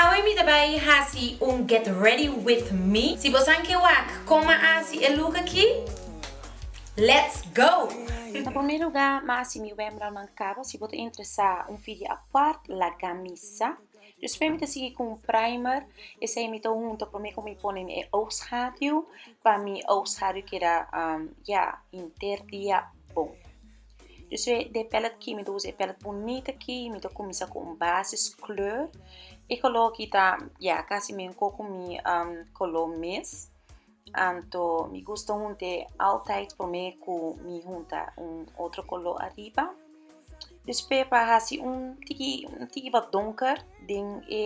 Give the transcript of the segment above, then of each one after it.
Awe mi ta bai hasi un get ready with me. Si bo san ke wak kon m'a hasi e look aki, let's go! Na promé lugá m'a hasi mi wemblal mancabo, si bo ta interesá un fidia apart lagá mi sa. Despues mi ta sigui cu un primer, esei mi ta hunta promé cu mi pone mi e oogschaduw pa mi oogschaduw keda ya hinter dia bon. Dor so de palette ki mi ta usa e palette bunit aki mi ta kumisa ku un basis kleur e kolor aki ta ya kasi mingkó ku mi um kolor mes anto mi gusta hunté altaid promé ku mi hunta un otro kolor ariba despué pa hasi un tiki un tiki wat donker den e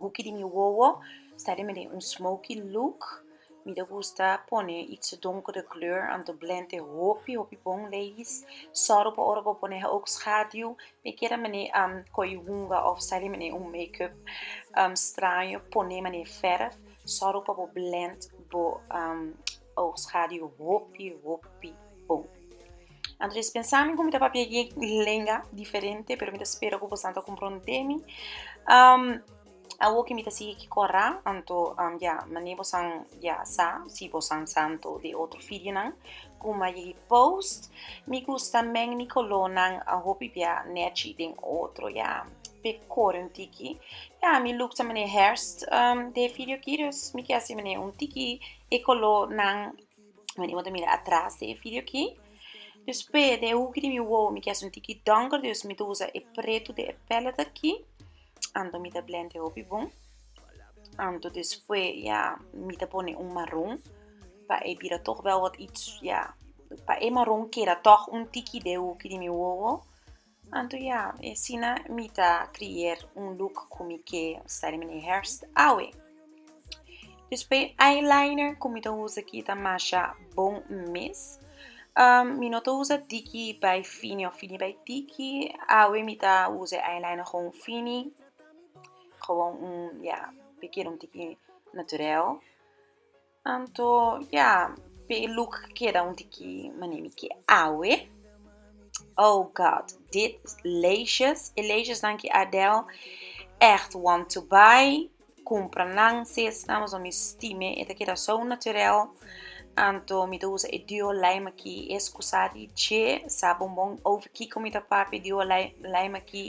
hoekie di mi wowo sta den mi den un smoky look. Mi ta gusta pone e donker de kleur anto blend e hopi hopi bon ladies sòru pa ora bo pone hoog schaduw mi a kere manera am ko'i hunga of sali man'e un makeup straño pone man'e verf sòru pa bo blend bo hoog schaduw hopi hopi bon anto des pensa mi ku mi ta papia e lenga diferente pero mi ta spera ku bosadan ta komprondemi. Awo ki mi ta sigui kiko a ra, anto ya mane bosan ya sa, si bosan sa anto de otro fidionan, kuma ye hi post, mi gusta men mi kolonan a hopi bia nechi den otro ya, pe kore un tiki, ya mi look ta mane herst de fidio ki dus mi ke hasi mane un tiki e kolo nan mane bo ta mira atras de e fidio ki, dus p'e de huki di mi wowo mi ke hasi un tiki donker dus mi ta usa e pretu de e palette aki. Anto mi ta blende hopi bon. Anto desfue ya mi ta pone un maron pa e bira toch bel wat its ya pa e maron keda toch un tiki de hopi di mi wowo. Anto ya e asina mi ta creer un look cu mi ke style meneer Herfst awe. Despues eyeliner ku mi ta usa aki ta masha bon mes. Um mi no ta usa tiki bai fini of fini bai tiki. Awe mi ta usa e eyeliner gewoon fini, gewoon un, ya, mi quiero un tiki naturel. Anto ya pe e luk keda un tiki mané mi ke awe. Oh God dit leisjes e leisjesnan ki Adel ègt want to buy kumpra nan sesnan pasobra mi stime e ta keda so naturèl anto mi ta usa e duo lime aki e skusa di dje sa bombon over kiko mi ta papia e duo lime aki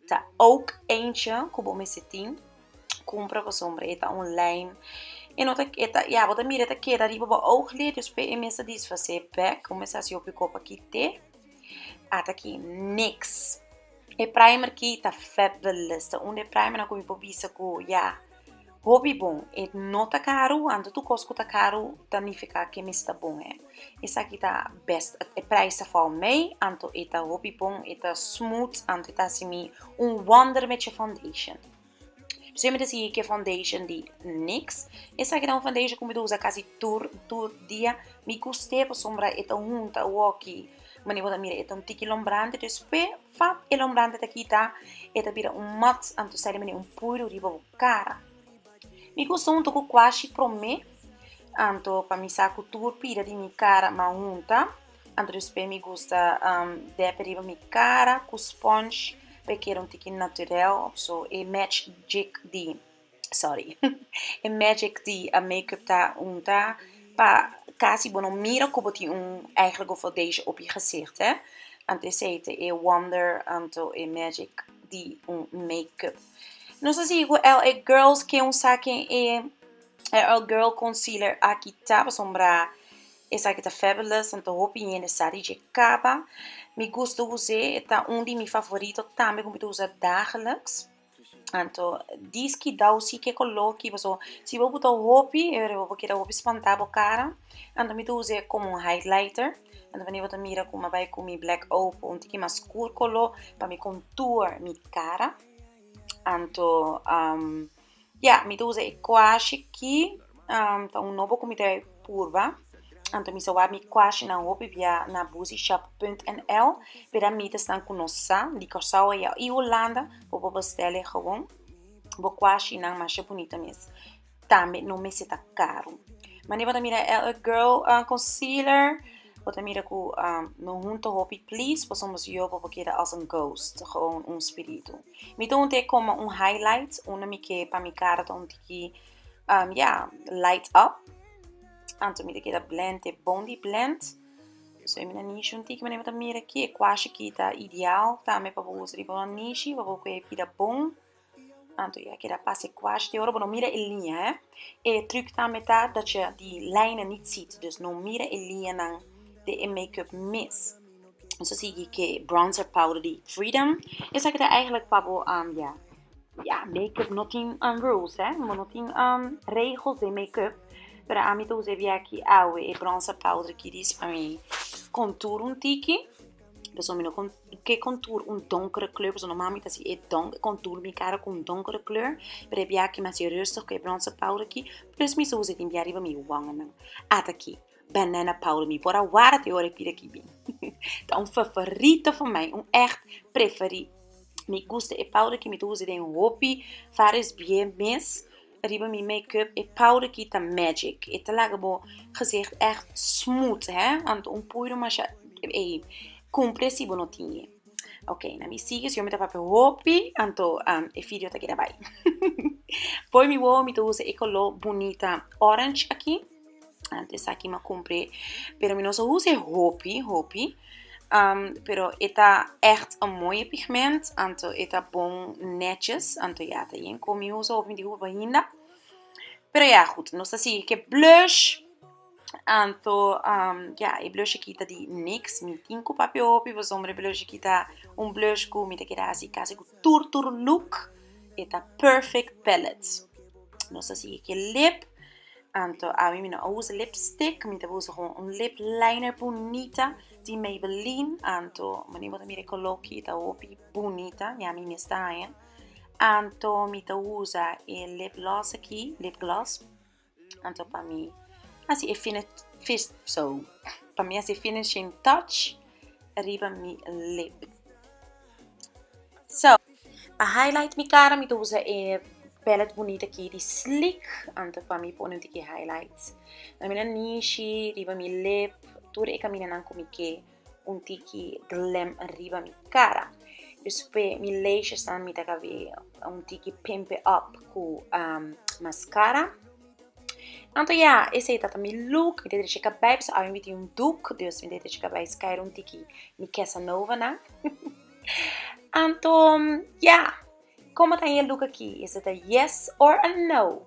Ta oak eentje ku bo mester tin. Kumpra boso hombre, e ta un lijm. E no ta, e ta, ya, bo ta mira e ta keda riba bo oog le, dus p'e e mes ta disfas'é bèk. Bo mester hasi hopi ku kòp aki te. At aki, niks. E primer ki ta fabulous. Ta un di e primernan ku mi por bisa ku, ya. Hopi bon, e no ta karu, anto tur kos ku ta karu ta nifiká ke mester bon hê. Esaki ta bèst, e prijs ta fòl mei, anto e ta hopi bon, e ta smooth, anto e ta hasi mi un wonder met e foundation. P'esei mi ta sigui ke foundation di nix, esaki ta un foundation ku mi ta usa kasi tur tur dia, mi gust'é pasobra e ta hunta woki, manera bo ta mira e ta un tiki lombrante, despues Fat e lombrante ta kita, e ta bira un mux anto sali mene un puiru riba bo kara. Mi gusta hunta ku kuashi promé, anto pa mi sa ku tur pida di mi kara ma hunta, anto despues mi gusta dèp riba mi kara ku sponge pa e keda un tiki naturèl, so e match djik di. sorry, e magic di a makeup ta unta pa casi bo no mira cu bo tin un eigenlijke foundation op e gezicht he. Anto esey ta e wonder anto e magic di un makeup. No ta sigui cu LA girls ken usa ken e LA girl concealer aki ta pasobra esaki ta fabulous anto hopi hende sa di dje caba. Mi gusto usa e ta un di mi favorito tambe cu mi ta usa dagelijks. Anto diskidau si ke ko loki paso si bo buta hopi e bo keda hopi spantá bo kara anto mi ta usa e komo un highlighter anto wende bo ta mira ku mi bai ku mi black oud un tiki mas skur koló pa mi kontoer mi kara anto ya mi ta usa e kuashi ki. Ta un nobo ku mi ta purba, anto mi sa wak mi kuashinan hopi bia na Busyshop punt NL, pida mitas nan ku nos sa di Kòrsou ei i Hulanda ku bo bèstèl e gawon. Bo kuashi nan masha bunita mes, tambe no mester ta karu. Mane bo ta mira e LA Girl concealer, bo ta mira ku no hunta hopi please, pasobra mi yo bo por keda als en ghost, gawon un spiritu. Mi ta hunta e komo un highlight, unda mi ke pa mi kara ta un tiki Um, ja, light up. Anto mi te keda blend, te bondi blend. So mi na nishi un tiki, mane mi ta mira ki e kwashi ki ta ideal tambe pa bo usa riba un nishi, pa bo kwe e pida bon. Anto ya keda pas e kwashi. Te ora bo no mira e liña, eh. E truc tambe ta dat je di lijnen niet ziet. Dus no mira e liñanan di e makeup mes. Nos a sigui ke bronzer powder di Freedom. Esaki ta eigenlijk pa bo, ya, ya makeup no tin rules, he. Bo no tin regels den makeup. Pero ami ta usa e bia aki awe, e bronzer powder aki dis pa mi kontoer un tiki. Pasobra mi no kon ke kontoer un donkere kleur, pasobra normalmente mi ta hasi e don e kontoer mi kara ku un donkere kleur. Pero e bia aki mi hasi e rustig ku e bronzer powder aki. Plus mi sa usa e tin bia riba mi wangenan. Ataki. Banana powder mi por a warda te ora e pida kibi ta un favorito for mai un echt preferi mi gusta e powder aki mi ta usa den hopi varios bie mes riba mi make up e powder aki ta magic e ta laga bo gezicht echt smooth he want un puiru masha ey cumpri asi bo no tine ok na mi sigui si yo mi ta papia hopi anto e video ta keda bai por mi wowo mi ta usa e color bunita orange aki Ant esaki ma cumpre, pero mi no so usa e hopi, hopi. Um, pero e ta echt een mooie pigment, anto e ta bon netjes, anto ja, ta yen con mi usa hopi, mi di hopi pa hinda. Pero ja, goed, nos ta sigui ke blush, anto, um, ja, e blush aki ta di niks, mi tin cu papia hopi, pasobra e blush aki ta un blush cu mi ta keda haci casi cu tur tur look, e ta Perfect Palette. Nos ta sigui ke lip. Anto ami mi no a usa lipstick mi ta usa gewoon un lip liner bunita di maybelline anto mani bo ta mira e color aki ta hopi bunita y ami mes ta haña anto mi ta usa e lip gloss aki lip gloss anto pa mi asi e fini so pa mi asi e finishing touch riba mi lip. So, pa highlight mi cara mi ta usa e palette bunita aki di Sleek. Anto pa mi pone un tiki highlights na mina nishi, riba mi lip, tur e caminanan cu mi ke un tiki glam riba mi cara. Despues mi lashes tambe mi ta cab'é un tiki pimp it up cu mascara. Anto ya, esei tata mi look, mi ta drecha kabei pasobra awe mi tin un doek, dus mi ta drecha kabei skair un tiki mi kesanova nan. Anto ya, komo ta e look aki? Esta ta yes or a no?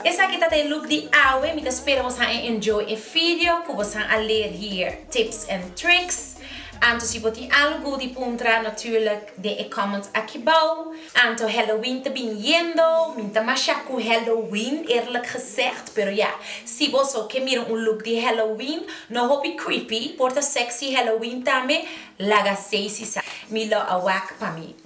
Esaki ta ta e look di awe, mi ta spera bos han e enjoy e video cu bos han a leer hier, tips and tricks. Anto si bo tin algu di puntra natuurlijk den e comments akibao. Anto Halloween ta biniendo, mi ta masha cu Halloween eerlijk gezegd, pero ya, si boso ke mira un look di Halloween, no hopi creepy, por ta sexy Halloween tambe, laga sey si sa. Mi lo a wak pa mi.